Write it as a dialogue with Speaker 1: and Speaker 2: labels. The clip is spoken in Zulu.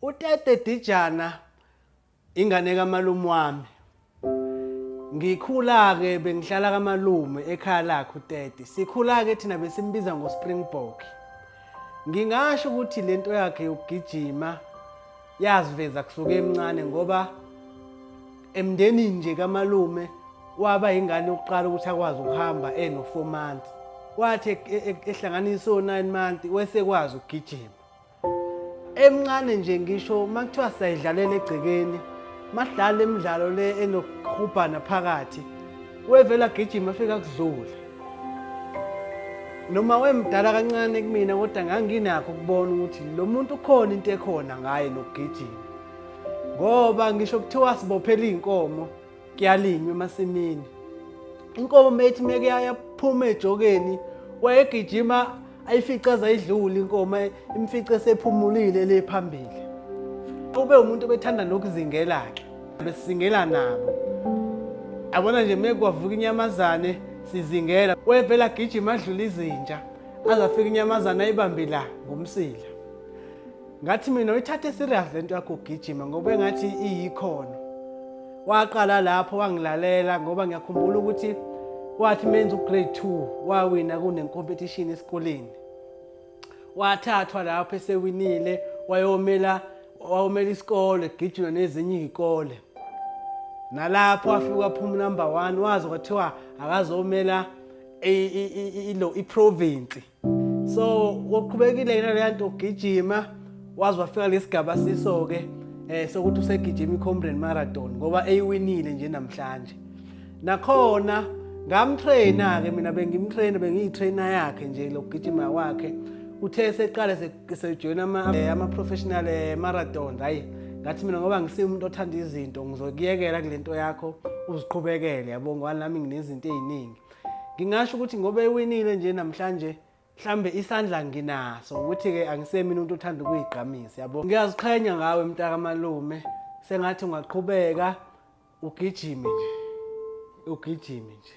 Speaker 1: Utete Dijana ingane kamalume wami. Ngikhula-ke bengihlala kamalume ekhaya lakhe utete. Sikhula-ke thina besimbiza ngoSpringbok. Ngingasho ukuthi le nto yakhe yokugijima yaziveza kusuke emncane ngoba emndenini nje kamalume waba ingane yokuqala ukuthi akwazi ukuhamba eno-four months. Wathi e-, e-, ehlanganisa o-nine months wesekwazi ukugijima. emncane nje ngisho uma kuthiwa sayidlalela egcekeni madlala imidlalo le enokuhubhana phakathi wevela gijima afika kuzule noma wemdala kancane kumina kodwa nganginakho ukubona ukuthi lo muntu ukhona into ekhona ngaye nokugijima ngoba ngisho kuthiwa sibophela iy'nkomo kuyalinywa emasimini inkomo methi meke yaphuma ejokeni wayegijima ayifica azayidlula inkomo imfice sephumulile le phambili ube umuntu obethanda nokuzingela ke besizingela nabo abona nje mekwavuka inyamazane sizingela wevela agijima adlula izinja azafika inyamazane ayibambe la ngomsila ngathi mina uyithathe serious lento yakho ugijima ngoba engathi iyikhona waqala lapho wangilalela ngoba ngiyakhumbula ukuthi wathi menza ugrade 2 wawina kunencompetition esikoleni wathathwa lapho esewinile wayomela wawumela isikole gijima nezinye izikole nalapho wafika waphuma number 1 wazi kwathiwa akazomela i province so uqhubekile yena leya nto ugijima waze wafika lesigaba siso ke eh sokuthi usegijima iComrade Marathon ngoba eyiwinile nje namhlanje nakhona ngamtrainer ke mina bengimtrainer bengiyitrainer yakhe nje lokugijima kwakhe uthe seqale sejoyina ama eh, ama professional eh, marathon hayi ngathi mina ngoba ngisimuntu othanda izinto ngizokuyekela kulento yakho uziqhubekele yabo ngoba nami nginezinto eziningi ngingasho ukuthi ngoba ewinile nje namhlanje mhlambe isandla nginaso ukuthi ke angisemi umuntu othanda ukuyigqamisa yabo ngiyaziqhenya ngawe mntaka malume sengathi ungaqhubeka ugijime nje ugijime nje